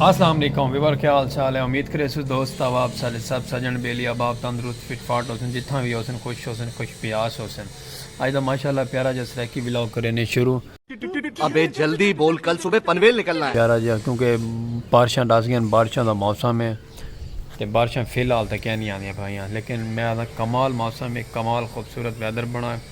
اسلام علیکم ویور کیا حال چال ہے امید کرے سو دوست احباب سارے سب سجن بیلی احباب تندرست فٹ فاٹ ہوسن جتھاں بھی ہوسن خوش ہوسن خوش پیاس ہوسن اج دا ماشاءاللہ پیارا جا سرائیکی ولاگ کرے نے شروع ابے جلدی بول کل صبح پنویل نکلنا ہے پیارا جا کیونکہ بارشاں ڈس گئے بارشاں دا موسم ہے تے بارشاں فی الحال تے کیا نہیں آندیاں بھائیاں لیکن میں آدھا کمال موسم ہے کمال خوبصورت ویدر بنا ہے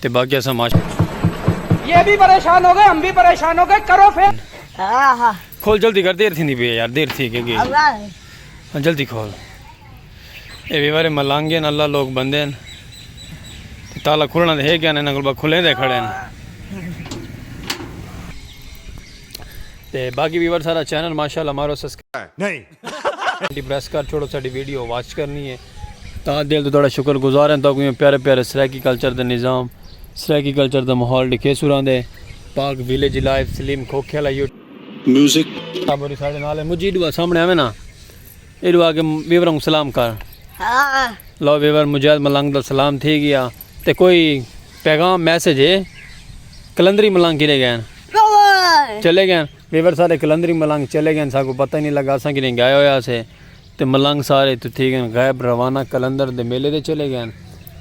تے باقی اساں معاشرے یہ بھی پریشان ہو گئے ہم بھی پریشان ہو گئے کرو پھر کھول جلدی کر دیر تھیندی پی ہے یار دیر تھی کہ گئی ہاں، جلدی کھول اے وی بارے ملانگے ہیں اللہ لوگ بندے ہیں تے تالا کھلنا دے ہے گیا نے نگل با کھلیں دے کھڑے ہیں تے باقی ویور سارا چینل ماشاءاللہ مارو سسکرائب پریس کر چھوڑو ساڈی ویڈیو واچ کرنی ہے تا دل تو تہاڈا شکر گزار ہیں تاکہ پیارے پیارے سرائیکی کلچر دے نظام سرائیکی کلچر دا ماحول ڈکھے سوراں دے پاک ویلیج لائیو سلیم کھوکھے والا یو میوزک ابوری ساڈے نال ہے مجھے ایڈو سامنے آویں نا ایڈو آ کے ویوراں کو سلام کر لو ویور مجاہد ملنگ دا سلام تھی گیا تے کوئی پیغام میسج ہے کلندری ملنگ کیلے گئے چلے گئے ویور سارے قلندری ملنگ چلے گئن ساکوں پتہ ہی نی لگا اساں کدھیں گئے ہویا سے تے ملنگ سارے اتھوں تھی گئن غائب روانہ قلندر دے میلے تے چلے گئن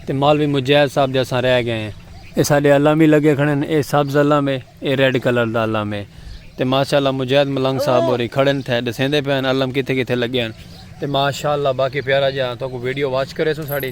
تے مالوی مجاہد صاحب دے اساں رہ گئے ہیں۔ اے ساڈے علم وی لگے کھڑن اے سبز علم ہے اے ریڈ کلر دا علم ہے تے ماشاءاللہ مجاہد ملنگ صاحب ہوری کھڑن تھے ڈسیندے پئن علم کتھے کتھے لگے ہن تے ماشاءاللہ باقی پیارا جیہا تہاکوں ویڈیو واچ کریسوں ساڈی۔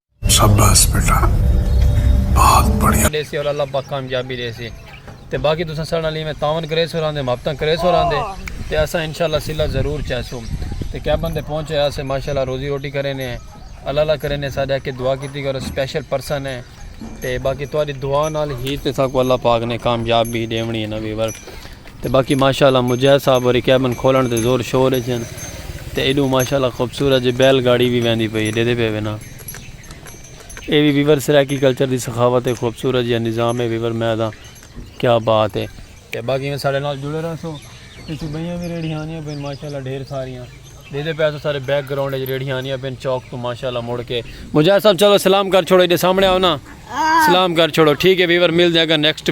شاباس بیٹا بہت بڑھیا ڈے سی اور اللہ پاک کامیابی دے سی تے باقی تساں سارے نال میں تعاون کرے سو راندے محبتاں کرے سو راندے تے اساں انشاءاللہ صلہ ضرور چاہے سو تے کیا بندے پہنچے اسے ماشاءاللہ روزی روٹی کرے نے اللہ اللہ کرے نے سارے کے دعا کیتی کرو سپیشل پرسن ہے تے باقی تہاڈی دعا نال ہی تے ساکو اللہ پاک نے کامیابی دیونی ہے نہ ویور تے باقی ماشاء اللہ مجاہد صاحب ہوری کیبن کھولن تے زور شور اچ ہن تے ایڈو ماشاء اللہ خوبصورت جے بیل گاڑی وی ویندی پئی ڈیدے پے وینا اے وی ویور سرائیکی کلچر دی سخاوت ہے خوبصورت جے نظام ہے ویور میں دا کیا بات ہے تے باقی میں ساڑے نال جڑے رہا سو اتھے بہیاں وی ریڑھیانیاں پین ماشاء اللہ ڈھیر ساریاں ڈیدے پے تو سارے بیک گراؤنڈ اچ ریڑھیانیاں پین چوک تو ماشاء اللہ مڑ کے مجاہد صاحب چلو سلام کر چھوڑو ایڈے سامنے آؤ نا سلام کر چھوڑو ٹھیک ہے ویور مل دے اگر نیکسٹ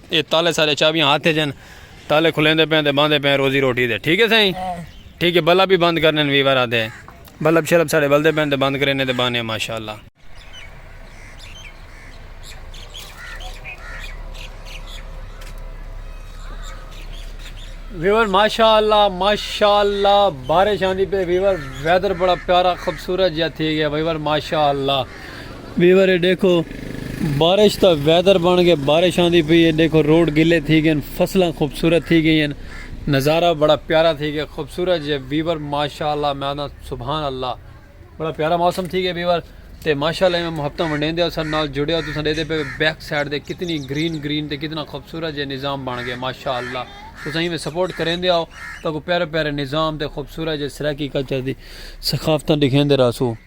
اے تالے سارے چابیاں ہاتھ اچ ہن تالے کھلیندے پئے تے باندے پئے روزی روٹی دے ٹھیک ہے سائیں ٹھیک ہے بلب بھی بند کرنے وی ورا دے بلب شلب ساڑے بلدے پئے تے بند کرینے تے بانے ماشاءاللہ ویور ماشاءاللہ ماشاءاللہ بارش آندی پئے ویور ویدر بڑا پیارا خوبصورت جیا تھی گیا ویور ماشاءاللہ ویورے ڈیکھو بارش تا ویدر بن گئے بارش آندی پئی ہے ڈیکھو روڈ گلے تھی گئے فصلاں خوبصورت تھی گئی ہیں نظارہ بڑا پیارا تھی گیا خوبصورت جی ویور ماشاءاللہ میں آنا سبحان اللہ بڑا پیارا موسم تھی گیا ویور تے ماشاءاللہ میں محبتہ منڈین دیا سن نال جڑیا تو سن دے دے پہ بیک سائڈ دے کتنی گرین گرین تے کتنا خوبصورت جی نظام بن گئے ماشاءاللہ تو سن میں سپورٹ کریں دیا ہو تاکہ پیارے پیارے نظام تے خوبصورت جی سرکی کچھر دی سخافتہ دکھیں دے رہا سو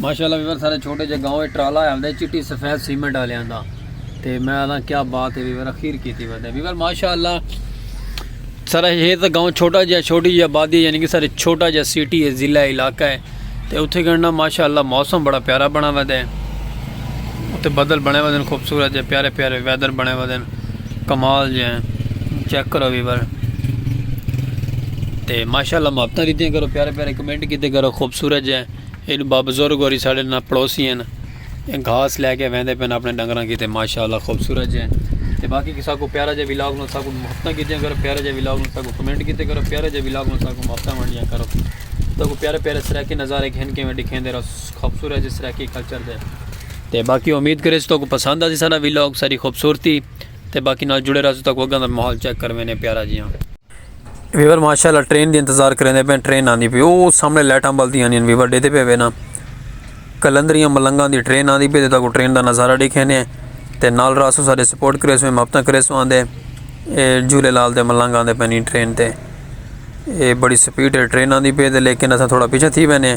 ماشاءاللہ ویور سارے چھوٹے جے گاؤں ایک ٹرالا ہے ہمدے چٹی سفید سیمنٹ آلے آندہ تے میں آدھا کیا بات ہے ویور اخیر کی تھی بات ہے ویور ماشاءاللہ سارے یہ تو گاؤں چھوٹا جے چھوٹی جے آبادی یعنی کہ سارے چھوٹا جے سیٹی ہے ضلع علاقہ ہے تے اتھے گھنڈا ماشاءاللہ موسم بڑا پیارا بنا ویدے اتھے بدل بنے ویدے خوبصورت جے پیارے پیارے ویدر بنے ویدے کمال جے چیک کرو ویور تے ماشاءاللہ محبتاں دیتیاں کرو پیارے پیارے کمنٹ کیتے کرو خوبصورت جے اینو با بزرگ ہوری ساڑے نا پڑوسی ہیں گھاس لے کے ویندے پین اپنے ڈنگراں کیتے ماشاءاللہ خوبصورت جے تے باقی کسا کو پیارا جے ویلاگ نو ساکو محبتاں کیتے کرو پیارا جے ویلاگ نو ساکو کمنٹ کیتے کرو پیارا جے ویلاگ نو ساکو محبتاں ونڈیاں کرو تو پیارے پیارے سرائیکی نظارے گھن کے میں دکھیندے رہو خوبصورت جے سرائیکی کلچر دے تے باقی امید کریسوں تہاکوں پسند آسی ساڈا ویلاگ ساڈی خوبصورتی تے باقی نال جڑے رہسوں تہاکوں اگاں دا ماحول چیک کروینے پیارا جیاں۔ ویور ماشاء اللہ ٹرین دی انتظار کریندے پئے ٹرین آندی پئی او سامنے لائٹاں بلدیاں نی ویور ڈیدھے پئے وینا کلندریاں ملنگاں دی ٹرین آندی پئی تے تہاکوں ٹرین دا نظارہ ڈیکھینے تے نال رہسوں ساڈے سپورٹ کریسوں محبتاں کریسوں آندے اے جھولے لال دے ملنگ آندے پئے نی ٹرین تے اے بڑی سپیڈ ٹرین آندی پئی تے لیکن اساں تھوڑا پیچھے تھی وینے۔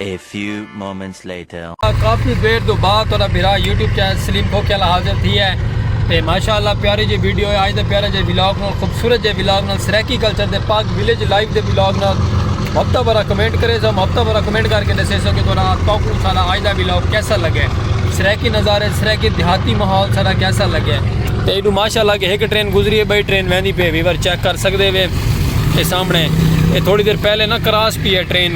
A few moments later. کافی دیر تو بعد تھوڑا بھرا یوٹیوب چینل سلیم کھوکھے والا حاضر تھی ہے تے ماشاءاللہ پیاری جی ویڈیو ہے آج دے پیارے جے ولاگ نال خوبصورت جے ولاگ نال سرائیکی کلچر دے پاک ویلیج لائف دے ولاگ نال ہفتہ بھرا کمنٹ کرے سو ہفتہ بھرا کمنٹ کر کے دسے سو کہ تھوڑا تاکو سارا آج دا ولاگ کیسا لگے سرائیکی نظارے سرائیکی دیہاتی ماحول سارا کیسا لگے تے ایڈو ماشاءاللہ کہ ایک ٹرین گزری ہے بھائی ٹرین ویندی پہ ویور چیک کر سکدے وے اے سامنے اے تھوڑی دیر پہلے نا کراس پی ہے ٹرین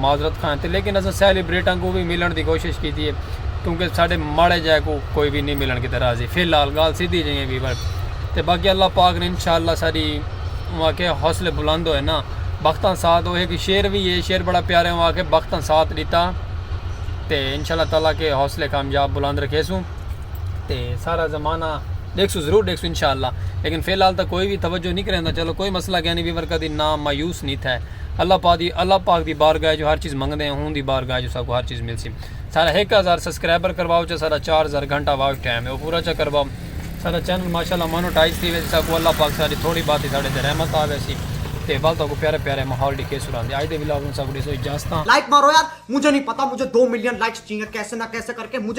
معذرت خواہ ہیں لیکن اساں سیلیبریٹاں کوں وی ملن دی کوشش کیتی ہے کیونکہ ساڈے ماڑے جے کوں کوئی وی نی ملن کیتے راضی فی الحال گال سیدھی جئیں ویور تے باقی اللہ پاک نے انشاءاللہ ساڈی اواں کے حوصلے بلند ہوئے نا بختاں ساتھ ہوئے کہ شعر وی ہے شعر بڑا پیارے اواں کے بختاں ساتھ ڈیتا تے انشاءاللہ تعالی کے حوصلے کامیاب بلند رکھے سوں تے سارا زمانہ دیکھ سو ضرور دیکھ سو انشاءاللہ لیکن فی الحال تا کوئی وی توجہ نی کریندا چلو کوئی مسئلہ گیا نی ویور کدی نا مایوس نی تھے اللہ پاک دی اللہ پاک دی بارگاہ اچ ہر چیز منگدے ہیں اوندی بارگاہ اچ اساکوں ہر چیز ملسی سارا ہک ہزار سبسکرائبر کرواؤ چا سارا چار ہزار گھنٹہ واچ ٹائم ہے او پورا چا کرواؤ سارا چینل ماشاءاللہ مونوٹائز تھی ویسی ساکوں اللہ پاک ساری تھوڑی باتی ساڈے تے رحمت آ ویسی تے ول تاکوں پیارے پیارے ماحول ڈیکھے سران دے اج دے ولاگ نوں ساکوں ڈیسو اجازتاں لائک مارو یار مجھے نہیں پتا مجھے دو ملین لائکس چاہیے کیسے نہ کیسے کر کے مجھے